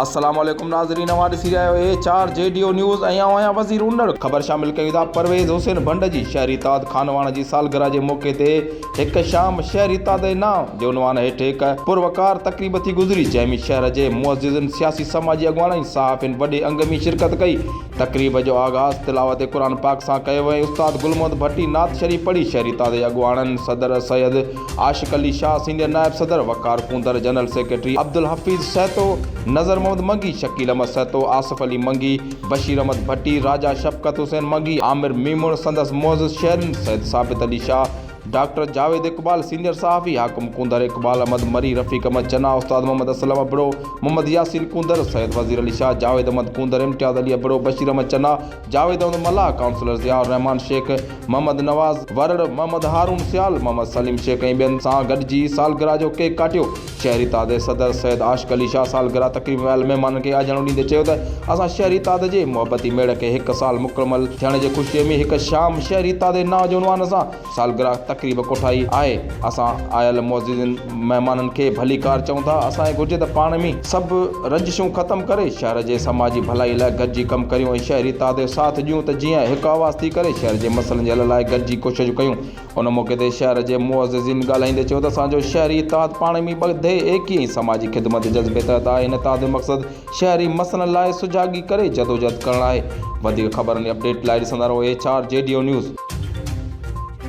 السلام عليڪم ناظرين اوهان ڏسي رهيا آهيو اي چار جي ڊيو نيوز ۽ آئون آهيان وزير اوندڙ خبر شامل ڪيون ٿا پرويز حسين ڀنڊ جي شهري تاد خانواڻ جي سالگرهه جي موقعي تي هڪ شام شهري تاد جي نانء جي عنوان هيٺ هڪ پروقار تقريب ٿي گذري جنهن ۾ شهر جي معززن سياسي سماجي اڳواڻن ۽ صحافين وڏي انگ ۾ شرڪت ڪئي تقريب جو آغاز تلاوت قرآن پاڪ سان ڪيو ويو ۽ استاد گل محمد ڀٽي نعت شريف پڙهي شهري تازي اڳواڻن صدر سيد عاشق علي شاهه، سينئر نائب صدر وقار ڪونڌر، جنرل سيڪريٽري عبدالحفيظ سهتو، نذر محمد منگي، شڪيل احمد سهتو، آصف علي منگي، بشير احمد ڀٽي، راجا شفقت حسين منگي، عامر ميمڻ، سندس معزز شهرين سيد ثابت علي شاهه، ڊاڪٽر جاويد اقبال، سينيئر صحافي حاڪم ڪونڌر، اقبال احمد مري، رفيق احمد چنا، استاد محمد اسلم ابڙو، محمد ياسين ڪونڌر، سيد وزير علي شاهه، جاويد احمد ڪونڌر، امتياز علي ابڙو، بشير احمد چنا، جاويد احمد ملاح، ڪائونسلر ضياء الرحمان شيخ، محمد نواز ورڙ، محمد هارون سيال، محمد سليم شيخ ۽ ٻين سان گڏجي سالگرهه جو ڪيڪ ڪاٽيو. شهري اتحاد صدر سيد عاشق علي شاهه سالگرهه تقريب ۾ آيل مهمانن کي آجياڻو ڏيندي چيو ته اسان شهري اتحاد جي محبتي ميڙ کي هڪ سال مڪمل ٿيڻ جي خوشي ۾ هڪ شام شهري اتحاد جي نانء جي عنوان سان سالگرهه تقريب ڪوٺائي آهي اسان آيل معززين مهمانن کي ڀليڪار چئون ٿا اسان کي گهرجي ته پاڻ ۾ سڀ رنجشون ختم ڪري شهر جي سماجي ڀلائي لاء گڏجي ڪم ڪريون ۽ شهري اتحاد جو ساٿ ڏيون ته جيئن هڪ آواز ٿي ڪري شهر جي مسئلن جي حل لاء گڏجي ڪوششون ڪيون ان موقعي تي شهر جي معززين ڳالهائيندي چيو ته اسان جو شهري اتحاد پاڻ ۾ ٻڌي ايڪي ۽ سماجي خدمت جي جذبي تحت آهي ان اتحاد جو مقصد شهري مسئلن لاء سجاڳي ڪري جدوجهد ڪرڻ آهي وڌيڪ خبرن جي اپڊيٽ لاء ڏسندا رهو H R G D O news.